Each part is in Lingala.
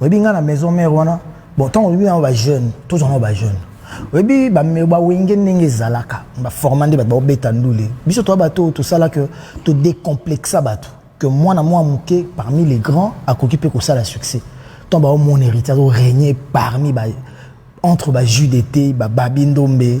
oyebi nga na maison mère wana bon ntango oyebi yango bajeune tozwa yango bajeune oyebi bawenge ndenge ezalaka baforma nde bato baobeta ndule biso toya bato oyo tosala ke todecomplexa bato ke mwana mwa moke parmi les grands akoki mpe kosala succès ntan baomona héritier azoregne parmi ba, entre bajude te bababi ndombe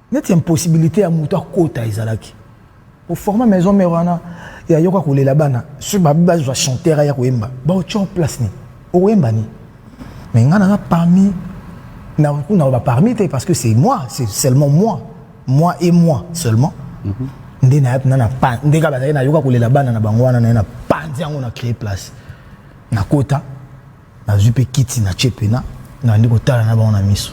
neti impossibilité ya moto akota ezalaki oforma maison mère wana yayoka kolela bana soki babi bazwa chanteur aya koyemba baotya place nini okoyemba nini mais ngai naza parmi nakoki naloba parmi te parce que c'est moi c'est seulement moi moi et moi seulement mm -hmm. nde naye mpena na pan nde kaka bazalaki nayoka kolela bana na bango wana naye na panzi yango na créer place nakota Nazwi mpe kiti natye pena, nabandi kotala na bango na miso.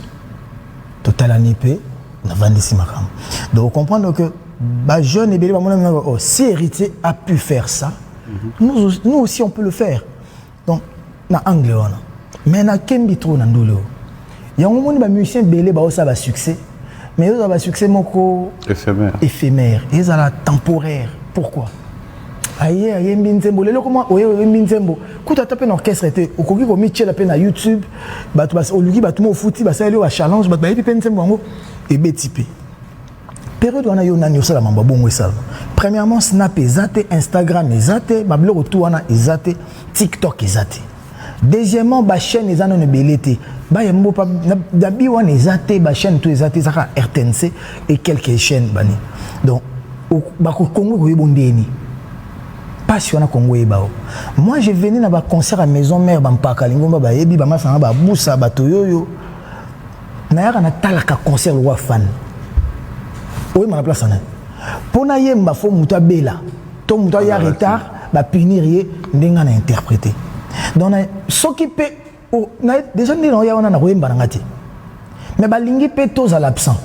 Totalani mpe navandisi makambo. Donc comprendre que ba jeunes ebele bamona mino oh, si héritier a pu faire ça, mhm. nous, nous aussi on peut le faire. Donc na angle wana. Mais na kembi trop na ndule oyo. yango omoni ba musiciens ebele baosala ba succès mais ezala ba succès moko éphémère éphémère ezala temporaire pourquoi aye ayembi nzembo lelo koma oye oyembi nzembo kuta ata mpe na orchestre te okoki komityela mpe na youtube bato oluki bato mo ofuti basaleli yo bachallenge bato bayebi mpe nzembo yango ebeti mpe periode wana yo nani osala mambo bongo esalama premièrement snap eza te instagram eza te babiloko tu wana eza te tiktok eza te deuxièmement ba chaîne eza nano ebele te bayembo pa na bi wana eza te ba chaîne to eza te ezaka rtnc et quelques chaîne bani donc bako kongo koyebo ndeni mpasi wana kongo eyeba o moi je venais na baconcert ya maison mare bampaka lingomba bayebi bamasanga babusa bato yoyo nayaka natalaka concert lokwa fan oyemba na place ana mpo nayemba fo moto abela to moto aya retard ba punir ye ndenge na interprete donc na soki mpe oh, deja nde naoya wana na koyemba na nga te mais balingi mpe tozala absent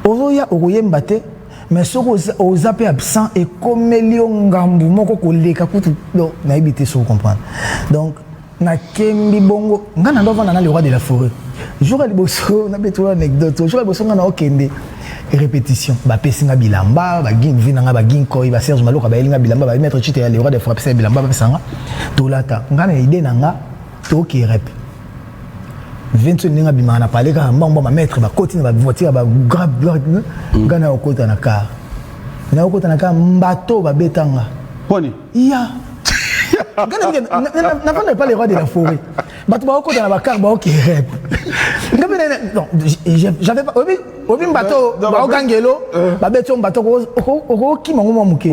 ozoya okoyemba te mais soki oza mpe absent ekomeli yo ngambu moko koleka kutu nayebi te soki comprendre donc na kembi bongo nga na ndovanda na le roi de la forêt jour ya liboso nabeti wana anecdote jour ya liboso nga na okende répétition bapesi nga bilamba bavi na nga baginkoi baserge maloka bayeli nga bilamba baye maître chite ya le roi de forêt apesa ya bilamba bapesa nga tolata nga na idée na nga toke rep vinso ndenge abimaka na pale kaka mbangba bamaître bakoti na bavoiture bagrave nga na okota na car na okota na car mbato babeta nga ya nafanda epa le roi de la forêt bato baokota na bakar baokerep nga mpe j'avais pas oyebi oyebi mbato baogangelo euh. babeti yo mbato okokima ngo mwa moke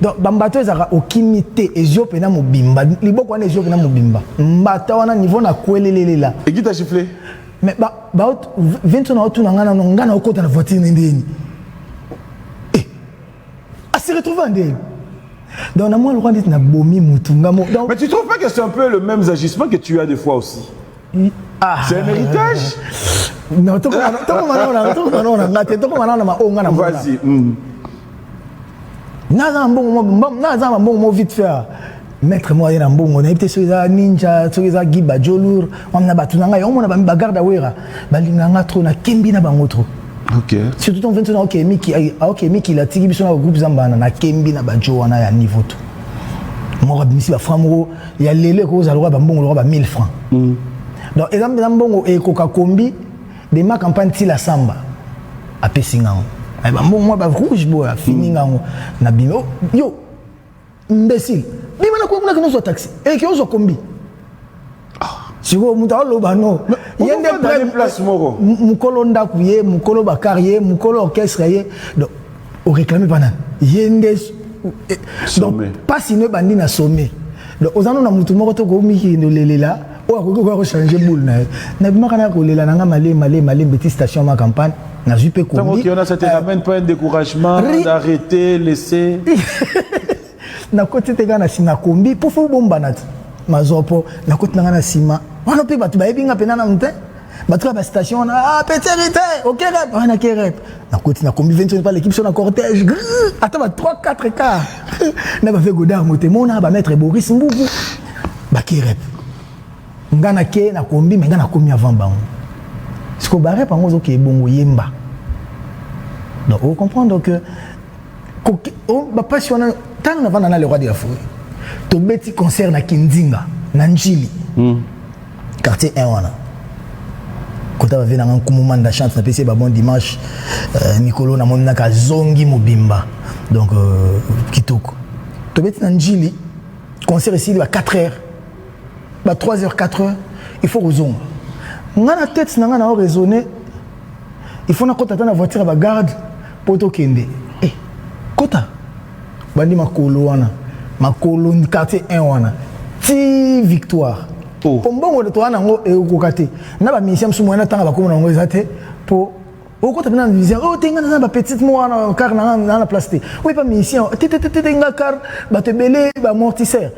donc bambato ezalaka okimi te ezio mpena mobimba liboko wana ezio mpena mobimba mbata wana niveau na kwelelelela ekita gifle mais vinto na otuna ngai nano ngai naokota na voiture nendeni a se retrouver en deuil donc na mwa lokola ndeti na bomi motu nga mo donc mais tu trouves pas que c'est un peu le même agissement que tu as des fois aussi ah. c'est un héritage non toko toko manona toko manona nga te toko manona ma onga na mona vas-y mm. naza mbongo mo naza mbongo mo vite faire maître moko aye na mbongo nayebi te soki eza ninja soki eza guy bajolur wamina bato na ngai omona bagarde awera balinga nga trop nakembi na bango trop Okay. surtout ton vingt ok miki ah, ok miki la tiki biso na groupe zambana na kembi na bajo wana ya niveau to moko abimisi ba franc moko ya lelo ekoki kozala lokola bambongo lokola ba 1000 franc mm. donc eza mpenza mbongo ekoka kombi de ma campagne ti la samba apesi ngango bambongo mwa ba rouge boya fini ngango na bino yo imbecile bima na kuna kino zwa taxi et eh, que ozo kombi ah. sikoyo moto aloba no ye nde place moko mokolo ndako ye mokolo bakar ye mokolo orchestre ye donc oréclame pa nani ye nde eh, donc mpasi no ebandi na sommet donc oza no na motu moko to koomikende olelela oyo akoki koya kochange boule na ye nabimaka na kolela na nga male male male mbeti station ma campagne nazwi mpe nakoti te kaka na nsima kombi mpo fo bombana te mazwa mpo nakoti na nga na nsima wana mpe bato bayebi nga mpenza nanu te batika ba station wana ah petit héritier ok rep ah na ke rep na koti na kombi 25 pale équipe sur na cortège ata ba 3 4 cas na ba fait godard motemo na ba maître Boris Mbuku ba ke rep nga na ke na kombi mais nga na komi avant bango siko ba rep yango ozoke ebongo yemba donc o comprendre que oh, bapasi wana ntango navanda na le roi de la foret tobeti concert na kinzinga na njili mm. Quartier 1 wana. Kota ba vie na nga nkumu manda chance na pesi ba bon dimanche euh, mikolo na moni naka zongi mobimba. Donc euh, kitoko. Tobeti na njili concert esili ba 4 heures. Ba 3 heures 4 heures il faut kozonga. Nga na tête na nga na raisonner il faut nakota ata na voiture ya bagarde mpo tokende e eh, kota bandi makolo wana makolo quartier 1 wana ti victoire oh. po mbongo toza nango ekokoka te na baminisien mosusu moyena ntanga bakoma na yango eza te po okota mpe na vision oyo oh, te ngai naza na bapetite moko wana kar na ngai na place te oyo epa minisien te te te te ngai kar bato ebele bamortisseur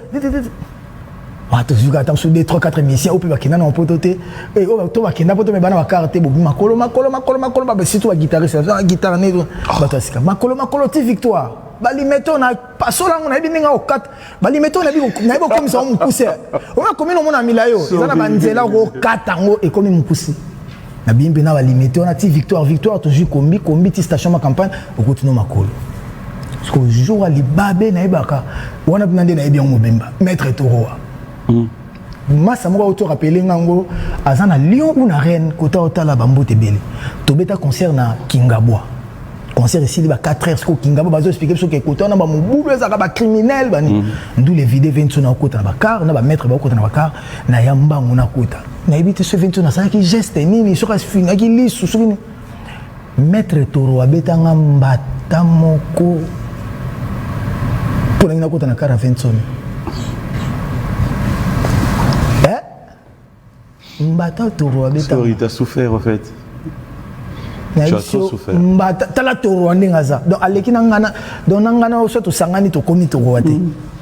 bato zuka ata mosusu 2 3 4 misia oyo mpe bakenda na poto te eh, oyo to bakenda poto me bana bakar te bobi makolo makolo makolo makolo babe surtout baguitariste ah, guitare ne ah. bato ya sika makolo makolo ti victoire balimeto na pasola yango nayebi ndenge okata balimeto nayebi okomisa yango mokuse oyo akomi nomona mila yo eza na banzela okokata yango ekomi mokuse na bien mpe na balimete wana ti victoire victoire tozwi kombi kombi ti station ma campagne okuti no makolo sikoyo jour ya libabe nayebaka wana mpena nde nayebi yango mobemba maître toroa mm. masa moko auti orapele nga yango aza na lion ou na reine kota otala bambote ebele tobeta concert na kingabwa concert esili ba 4 heures sikoyo kingabwa bazo explike biso ke kota wana bamobulu ezalaka bacriminel bani mm. ndule vide ve nso na okota na bacar na bamaître baokota na bacar na ya mbango nakota nayebi te soki ventino asalaki geste nini soki afingaki lisu soki nini maître toro abetanga mbata moko mpo nangi nakota na kara ventino eh? mbata toro abetanga souffert en fait mbata tala toro ndenge aza donc aleki na ngana donc na ngana oso tosangani tokomi torowa te mm.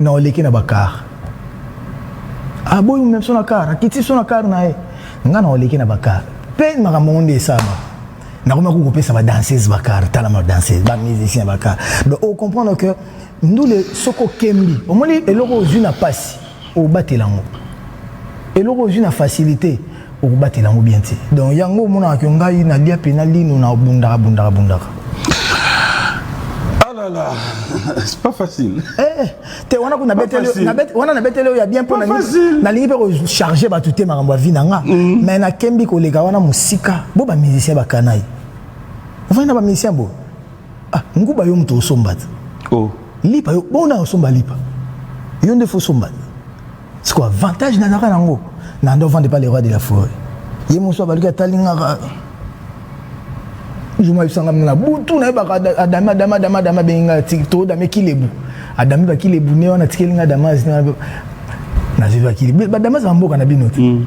Non oleki na ba car. Ah boyi meme son na car, akiti son na car na ye. Nga na oleki na ba car. Pe makambo nde esama. Na koma ko kopesa ba danseuses ba car, tala ma danseuses, ba musiciens ba car. Donc o comprendre que ndule soko kembi. Omoni eloko ozui na pasi, obatela ngo. Eloko ozui na facilite, okobatela yango bien te donc yango omonaka ke ngai nalia mpe na lino na bundaka bundaka bundaka alala ah c'est pas facile eh, te wana kuna wana nabeteli oyo ya bien mpo nalingi mpe kocharge bato te makambo ya vi na nga mm. mais nakembi koleka wana mosika bo bamusicien bakanayi ofandi na bamusicien boyo Ah, nguba yo moto osomba te. Oh. Lipa yo bona osomba lipa. Yo nde faut somba. C'est quoi avantage na naka nango? Na ndo vendre pas les rois de la forêt. Ye moso abaluki atali ngaka. Juma bisanga na butu na yebaka adama adama adama adama benga tikto dame kilebu. Adami ba kilebu ne wana tikeli nga adama zina. Na zeba kilebu. Ba adama za mboka na bino te. Mm.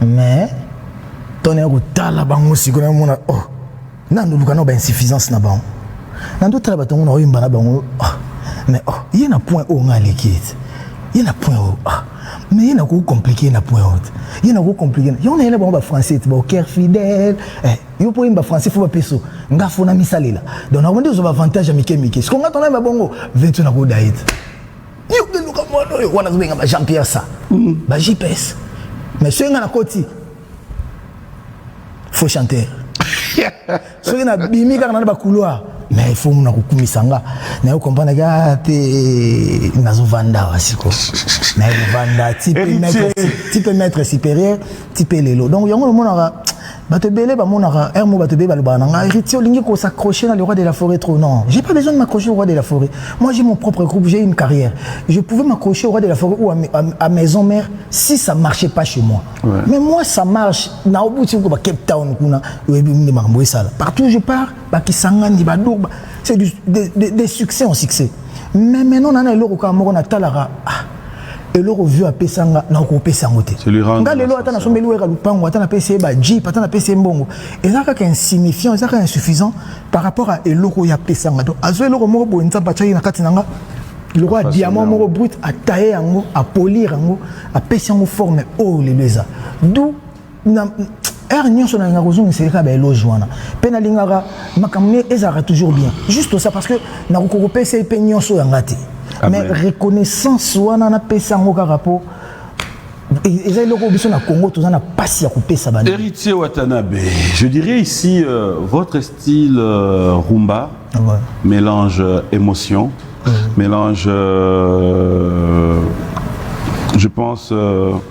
mais tone ya kotala bango siko na mona oh nando luka na ba insuffisance na bango nando tala batongo na oyemba na bango oh mais oh ye na point oyo ngai aleki ete ye na point oyo oh mais ye na ko compliquer na point oyo ye na ko compliquer yango nayela bango ba français ete ba oker fidèle eh, yo mpo oyemba français fo bapeso nga fo na misalela donc nakondi ozwa ba avantage ya mike mike siko nga tonayemba bongo 20 nakoda ete Yo ke luka mwana oyo wana zobenga ba Jean Pierre sa. Mm. Ba JPS. Mais soki nga na koti. Faux chanteur. soki na bimi kaka na ba couloir. Mais il faut muna kokumisa nga. Na yo comprendre ga te nazo vanda wasiko. Na vanda type maître type maître supérieur type lelo. Donc yango le mona bato ebele bamonaka un mot bato ebele balobaka na ngai héritier olingi ko s'accrocher na le roi de la forêt trop non j'ai pas besoin de m'accrocher au roi de la forêt moi j'ai mon propre groupe j'ai une carrière je pouvais m'accrocher au roi de la forêt ou à, à, à maison mère si ça marchait pas chez moi ouais. mais moi ça marche na obuti ko ba Cape Town kuna oyebi nde makambo esala partout je pars bakisangani badoba c'est des, des, des succès en succès mais maintenant nana eloko kaka moko natalaka ah, eloko vieux apesa nga na kopesa yango te nga lelo ata nasombeli weka lupango ata napesi ye ba jeep ata napesi ye mbongo eza kaka insignifiant eza kaka insuffisant par rapport à eloko oyo apesa nga donc azwa eloko moko boye nzambe atiaki na kati na nga lokola diamant moko brut ataye yango apolir yango apesi yango forme oyo lelo eza d'où na heure nyonso nalinga kozongiseli kaka baeloge wana mpe nalingaka makambo ne ezalaka toujours bien juste ça parce que nakoki kopesa ye mpe nyonso yanga te mais reconnaissance wana napesa yango kaka mpo e-, eza eloko biso na congo toza na mpasi ya kopesa bana héritier watanabe je dirais ici euh, votre style euh, rumba ah ouais. mélange euh, émotion mmh. mélange euh, je pense euh,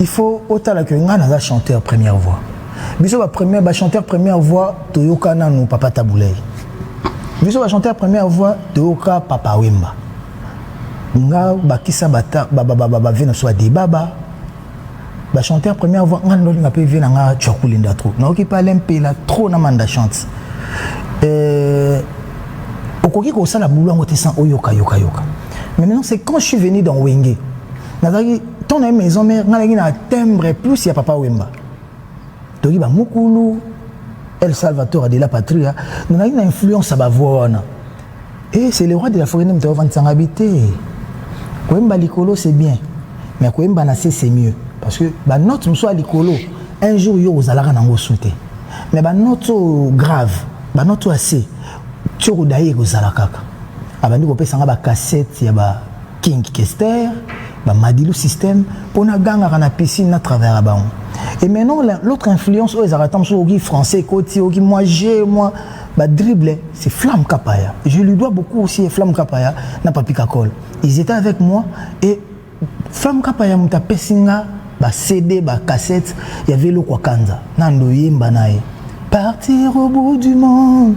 il faut otala que ngai naza chanteur première voix biso ba première ba chanteur première voix toyoka nanu papa tabuley biso ba chanteur première voix toyoka papa wemba nga bakisa bata ba ba ba ba, ba vie na so debaba ba chanteur première voix nga ndolinga pe vie na nga tchakulinda trop na oki pa lempela trop na manda chante euh okoki ko sala boulot yango te sans oyoka yoka yoka mais maintenant c'est quand je suis venu dans wenge nazalaki ntango na ye maison mare ngai nazalaki na timbre plus ya papa wemba toki bamukulu el salvator de la patria nazalaki na influence ya bavoi wana e c'est le roi de la forêt nde moto avandisanga bi te koyemba likolo c'est bien mais koyemba na se c'est mieux parce que banote mosusu ya likolo un jour yo ozalaka nango su te mais banote oyo grave banote oyo ya se ti okodaye ekozala kaka abandi kopesa nga bacassette ya ba King Kester, ba Madilu système, pona gangaka na piscine na travaillera bango. Et maintenant l'autre influence oyo ezalaka ntango soki français ekoti oki moi je moi ba dribble c'est Flamme Kapaya. Je lui dois beaucoup aussi Flamme Kapaya na Papi Kakol. Ils étaient avec moi et Flamme Kapaya muta pesinga ba CD ba cassette ya Velo kwa Kanza. Nando yemba naye. Partir au bout du monde.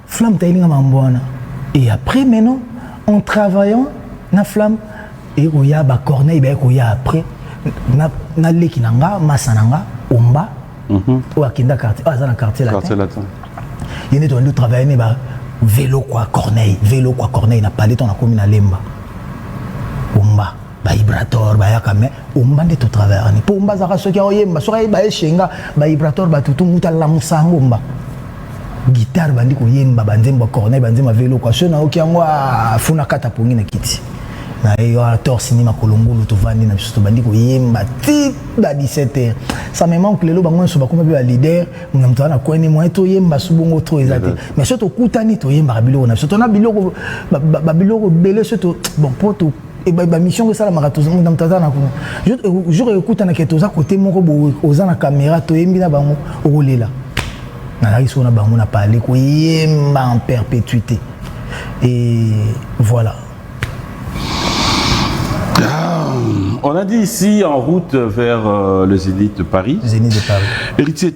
Flamme tayeli nga mambo wana et après maintenant en travaillant na flamme et koya ba corneille ba koya après na na leki na nga masa na nga omba mm -hmm. oyo akenda quartier oyo aza na quartier latin quartier latin ye nde tobandi travailler ne ba velo kwa corneille velo kwa corneille na palais to na komi na lemba omba bahibrator bayaka me omba nde totravaya ni mpo omba azalaka soki aoyemba soki ayeba ye shenga bahibrator batutu mutu alamusa yango omba gitare bandi koyemba banzembo ya corneille banzembo ya veloko aso nayoki yango afuna ah, kata pongi na kiti na ye yo ator sini makolo ngulu tovandi na biso tobandi koyemba ti na 17 heures ça me manque lelo bango nyonso bakoma mpe baleader na moto wana kweni moye toyemba so bongo tro eza te mais so tokutani toyembaka biloko na biso tona biloko babiloko ebele so bon mpo bamission oyo esalamaka na moto aza na kuna jour ekokutanaka ete oza kote moko boye oza na kamera toyembi na bango okolela nazalaki soko na bango na pale koyemba en perpétuité et voilà ah, On a dit ici en route vers euh, le Zénith de Paris. Zénith de Paris. Héritier,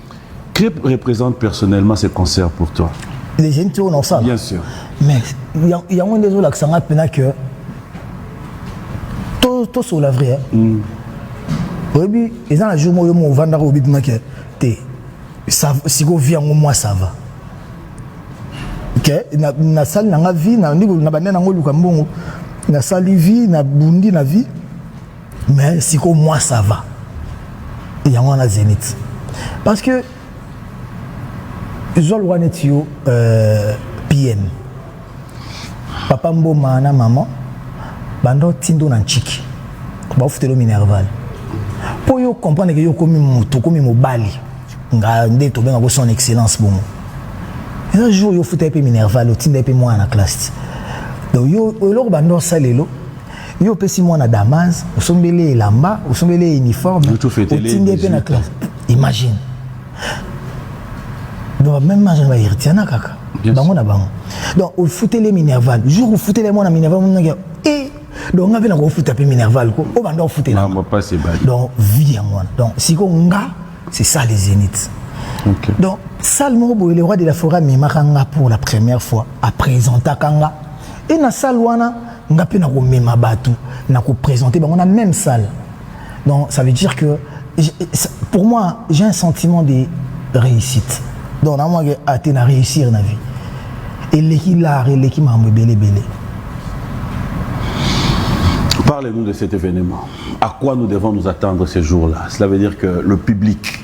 Clip represente personnellement ce concert pour toi Les jeunes tournent ensemble Bien sûr. Mais il y a il y a moins des autres qui sont appelés que tout tout sur la vraie. Oyebi eza na jour moyo mo vanda ko bibima ke te ça siko vie yango moi ça va. ke na, na sali na nga vie na ndiko na bande na ngo luka mbongo na sali vie na bundi na vie mais sikoyo moi ça va yango wana zenith parce que zwa lokola neti yo euh, pm papa mboma na mama banda otindo na ntshiki baofutelo minerval mpo yo comprendre ke yo okomi motu okomi mobali nga nde tobenga ko son excellence bongo eza jour yo ofuta ye mpe minerval otinda ye mpe mwana na classe donc yo eloko banda osala lelo yo opesi mwana damas osombeli ye elamba osombeli ye uniforme otindi ye mpe na classe imagine donc même age na baheritiana kaka bango na bango donc ofuteli ye minerval jour ofuteli ye mwana minerval monaki e donc nga mpe nakofuta mpe minerval ko oyo banda ofutela donc vie yango wana donc sikoyo nga c'est ça les zénith okay. donc salle moko boye le roi de la forêt amemaka nga pour la première fois apresentaka nga e na salle wana nga mpe nakomema bato na kopresente bango na même salle donc ça veut dire que pour moi j'ai un sentiment de réussite donc namonake ate ah, na réussir na vie eleki lar eleki makambo ebele ebele Parlez-nous de cet événement. À quoi nous devons nous attendre ces jours-là Cela veut dire que le public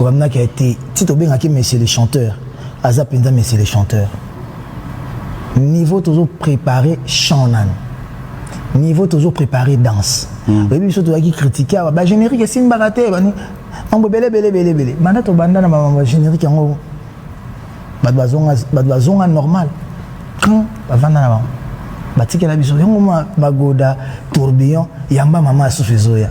Obamnaki ya te ti tobengaki monsieur le chanteur aza penza monsieur le chanteur niveau tozo prepare chant nanu niveau tozo prepare danse hmm. oyebi biso tozalaki kritike awa bagénérique esimbaka te bani mambo ebele ebele ebele ebele banda tobanda na mamambo ya générique yango bato bazonga normal quand bavanda na bango batikela biso yango magoda tourbillon yamba mama asusu ezoya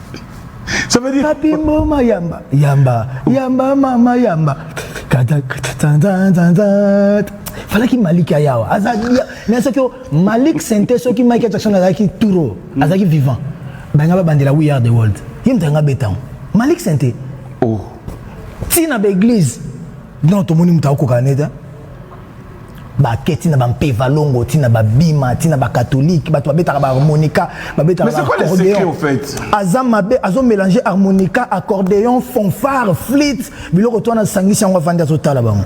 Ça veut dire. Papi Mboma Yamba, Yamba, Yamba, Mama Yamba. falaki malik aya awa mais soki malik sente soki mike jackson azalaki touro azalaki vivant banga babandela we are the world ye moto yanga betango malik sente oh. ntina baeglise non tomoni moto akokana nete bake ntina bampeva longo ntina babima ntina bakatholike bato babetaka baharmonica babetakaaccordeon aza mabe azomélange harmonica accordeon fanfare flite biloko to wana asangisi yango avandi azotala bango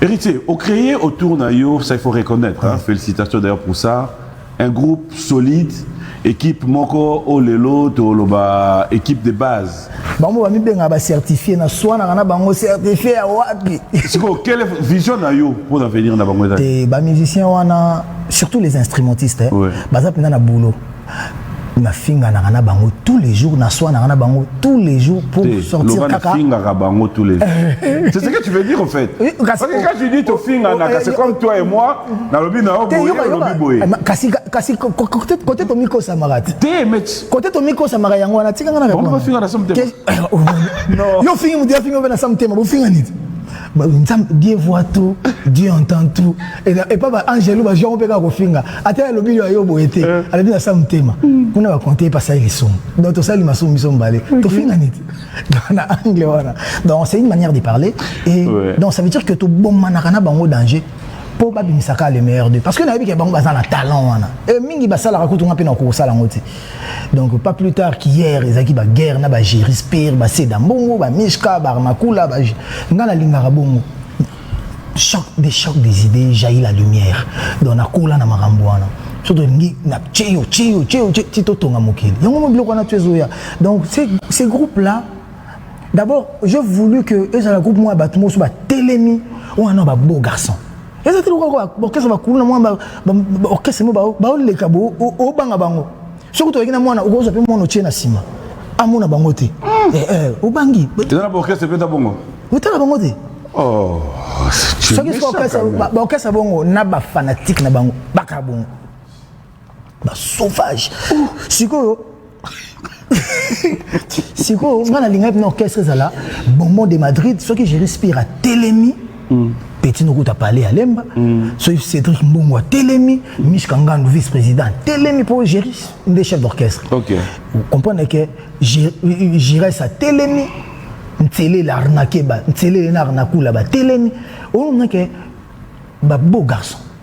héritier ocréer autour na yo ça il faut reconnaître hein, félicitations d'ailleurs pour ça Un groupe solide, equipe moko oyo lelo toloba equipe de base. Bango bamibengaka ba certifié na swanaka na bango certifié ya wapi? Sikoyo quelle vision na yo mpo na avenir na bango ezali? Te, ba musiciens wana surtout les instrumentistes eh, Ouais. baza mpenza na boulot nafinganaka na bango tous les jours naswanaka na bango tous les jours pour Te, sortir loba kaka nafingaka bango tous les jours. C'est ce que tu veux dire au fait. Oui, kasi- Parce que quand tu dis tofinganaka, c'est comme toi et moi, nalobi na yo boye olobi boye eh, kasi kasi kote tomikosamaka te kote tomikosamaka yango wana tika nga na bafinga na samtema eh, oh, oh. yo ofingi moto yafingi obe na samtema bofinga nini dieu voit tout dieu entend tout epa baangelo bajango mpe kaka kofinga ata alobi yo ayo boye te eh. alobi na sa motema hmm. kuna bakonte epasali lisumu donc tosali masumu biso mibale tofinga nini na angle wana donc c'est une manière de parler et donc ça veut dire que tobomanaka na bango danger mpo babimisa kaka le meilleur de parce que nayebi ke bango baza na talent wana e mingi basalaka kutu nga mpe nakoki kosala yango te donc pas plus tard qu'hier ezalaki baguerre na bagerispire baseda mbongo bamishka barmakula ba... nga nalingaka bongo choc des chocs des idées jaillit la lumière donc nakola na makambo wana so tolingi na tieyo tieyo tieyo ti totonga mokili yango mo biloko wana to ezoya donc ces groupes là D'abord, j'ai voulu que ezala groupe moi bato mosu ba telemi wana ba beau garçon. Eza te lokola ba orchestre ba kuluna moi ba orchestre mo ba ba leka bo o banga bango. Soki to yekina mwana okozo pe mwana otie na sima. Amona bango te. Hmm. Eh eh, obangi. Eza na orchestre pe ta bongo. Otala bango te. Oh. Soki soki orchestre ba orchestre bongo na ba fanatique na bango. Baka bongo. ba sauvage sikoyo sikoyo nga nalingaki na orchestre ezala bonbon de madrid soki je respire atelemi mm. petit nokuta pale ya lemba mm. soki cédric mbongo atelemi mishka ngandu vice président atelemi mpo géris nde chef d'orchestre okay. comprendre ke gires atelemi nselele arnake ba nselele na arnakula batelemi olomona ke babeau garçon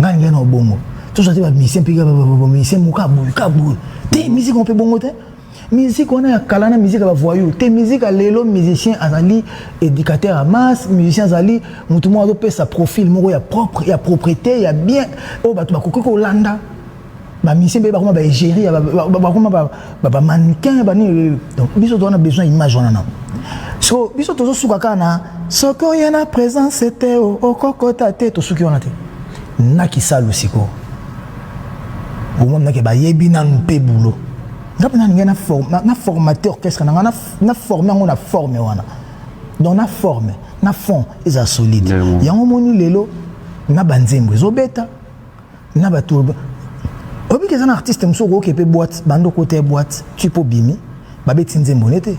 ngai ngai na obongo tozwa te bamusicien mpe bamusicien moko aboye kaboye te musike mpe bongo te miziki wana ya kala na miziki ya bavoyou te miziki ya lelo musicien azali éducateur ya masse musicien azali motu moko azopesa profil moko ya propre ya propreté ya bien oyo bato bakoki kolanda ba musicien mpe bakoma ba egérie bakoma ba mannequin banini donc biso toza na besoin image wana nango so biso tozosuka kaka na soki oye na présence te okokota te tosuki wana te na kisalu sikoyo omonake bayebi nanu mpe bulo nga mpe nalingai na formate orchestre na ngai na forme yango na forme wana donc na forme na fond eza solide yango omoni lelo na banzembo ezobeta na ba tour obi ke zana artiste muso ko ke pe boîte bando ko te boîte tu po bimi ba beti nzembo nete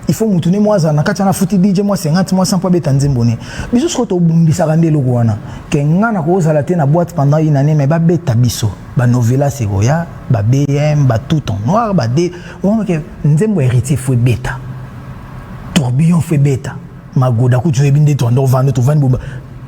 il faut mutu ne mwaza na kati na futi DJ mwa 50 mwa 100 po beta nzembo ne biso siko to bumbisa ka ndelo ko wana ke ngana ko zala te na boîte pendant une année mais ba beta biso ba novela se ko ya ba BM ba tout en noir ba de on ke nzembo héritier faut beta tourbillon faut beta magoda kutu ebinde to ndo vando to vandi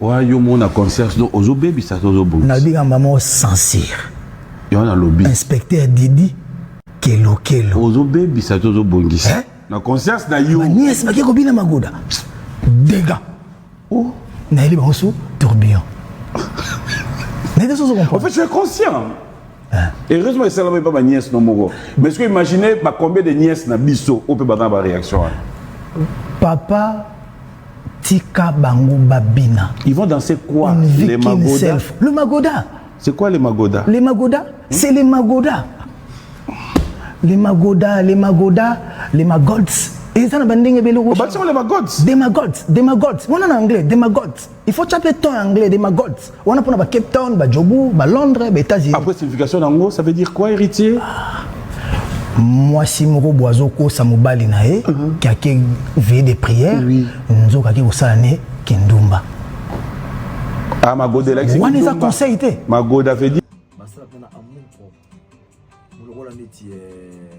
Wa yo mona concert do ozo baby sa ozo bouti. Na biga maman censure. Yo na lobby. Inspecteur Didi kelo kelo. Ozo baby sa ozo bongisa. Eh? Na concert na yo. Nièce bakia ko bina magoda. Dega. Oh. Na yeli bango sous tourbillon. Mais qu'est-ce que vous En fait, tu es conscient. Hein? Heureusement, il s'est lavé pas ma nièce, non, mon Mais est-ce que vous imaginez bah, combien de nièces na biso, ou peut battre ma réaction? Hein? Papa, Tika bango babina. Ils vont danser quoi Une vie Les qu'une magoda self. Le magoda. C'est quoi les magoda Les magoda, c'est les magoda. Les magoda, les magoda, les magods. eza na bandenge ebele obatisama le magods des magods des magods wana na anglais des magods il faut tya mpe temps ya anglais des magods wana pona ba Cape Town ba Jobu ba Londres ba États-Unis après signification nango ça veut dire quoi héritier ah. mwasi moko bo azokosa mobali na ye mhm. ki ake veye de prière nzoka ake kosala ne kindumba ah, wana eza conseil te basala mpona amour propre lokola neti eh,